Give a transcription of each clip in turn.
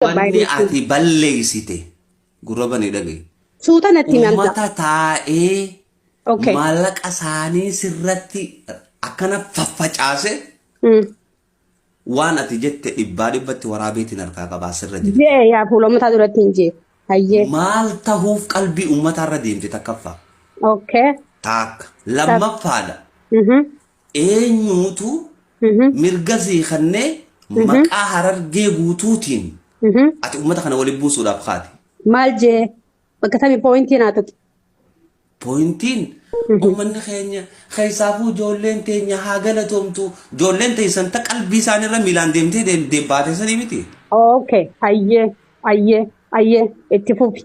Wanni ati balleeysite gurra bane dhagayi. Suuta natti hin argaa. Ummata taa'ee Okay. maallaqa isaanii sirratti akkana faffacaase Mm. waan ati jette dhibbaa dhibbatti waraabeetiin harkaa qabaa sirra jira. Jee yaa fuula ummataa duratti hin jee. Hayyee. Maal tahuuf qalbii ummataarra deemte takkaffaa Okay. taakka lammaffaadha. Mhm. Eenyuutu mirga sii kennee maqaa harargee guutuutiin ati uummata kana waliin buusuudhaaf kaate. Maal jee bakka tamii pooyintii naa tuqi. Pooyintiin uummanni keenya keessaafuu ijoolleen teenya haa galatoomtu ijoolleen teessan ta qalbii isaanirra miilaan deemtee deem- deem- baate sanii miti. Okay, ayyee, ayyee, ayyee, itti fufi.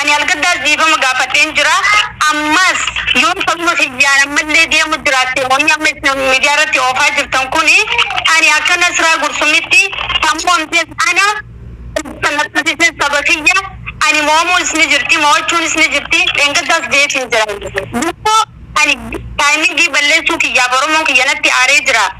Ani Algaddaas dhiifama gaafadheen jira. Ammas yoo sababa kiyyaan ammallee deemu jiraatte wanni amma isin miidiyaa irratti oofaa jirtan kun ani akka Nasraa Gursumitti sammuu amshees ana kan na taasises saba kiyya ani mo'amuunis ni jirti mo'achuunis ni jirti dheengaddaas jeetiin jira. Gurboo ani taayimingii balleessuu kiyyaaf Oromoon kiyya natti aaree jira.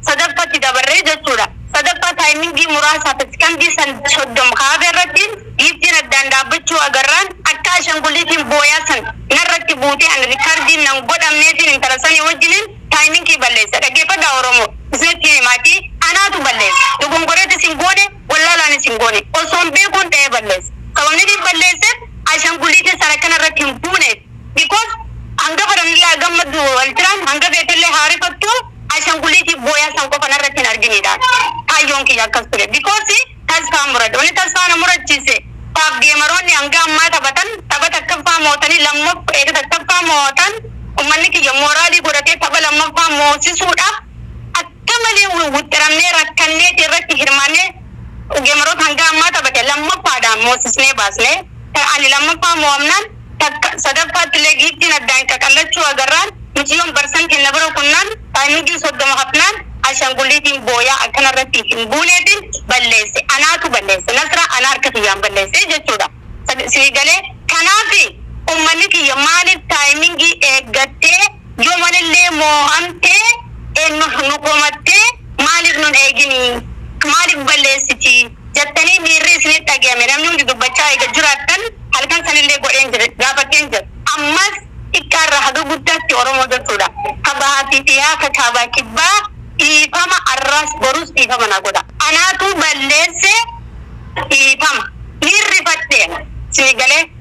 sadaffatti dabarre jechuudha. Sadaffaa taayimingii muraasaaf sekandii 30 kaafe irratti giiftiin addaan dhaabbachuu agarraan akka ashanguliitiin booyaa san narratti buutee ani rikardiin nan godhamneefiin intala sanii wajjiniin taayimingii balleesse dhaggeeffadhaa oromoo isinittiin himaati anaatu balleesse dogongoreetis hin goone wallaalaanis hin goone osoon beekuun dha'ee balleesse sababnitiin balleesseef ashanguliitiin san akka narratti hin buuneef Because hanga fedhanillee haa gammaddu wal jiraan hanga feetellee haa rifattu ashanguliitiif booyaa san qofa narratti hin arginidha kaayyoon kiyya akkas ture because tasfaa murad wanni tasfaa na murachiise taaf geemaroonni hanga ammaa taphatan tapha takkaffaa mootanii lammaff eega takkaffaa moo'atan ummanni kiyya mooraalii godhatee tapha lammaffaa moosisuudhaaf akka malee wixxiramnee rakkanneeti irratti hirmaannee geemaroota hanga ammaa taphate lammaffaadhaan moosisnee baasne ani lammaffaa moo'amnaan Takka, sadaffaatti illee Giiftiin addaan qaqallachuu agarraan miciyoon barsan kenna bira kunnaan Paaynugiin soddoma hafnaan Ashangulliitiin booyaa akka narra siif hin buuneetiin balleesse. Anaatu balleesse. Nasraa ana harka kiyyaan balleesse jechuu dha. Sii galee? Kanaaf ummanni kiyya maaliif taayimingii eeggattee Yoo malillee moo'amtee eennuuf nu komattee maaliif nun eegini? Maaliif balleessiti? jattanii miirri isinitti dhagayame namni hundi dubbachaa eega jiraattan halkan sanillee godheen jira gaafadheen jira. Ammas xiqqaarraa haga guddaatti Oromoo jechuudha. Ka bahaa fi dhihaa, ka kaabaa kibbaa dhiifama arraas borus dhiifama naa godha. Anaatu balleesse dhiifama. Niin rifadhe. Isinii galee?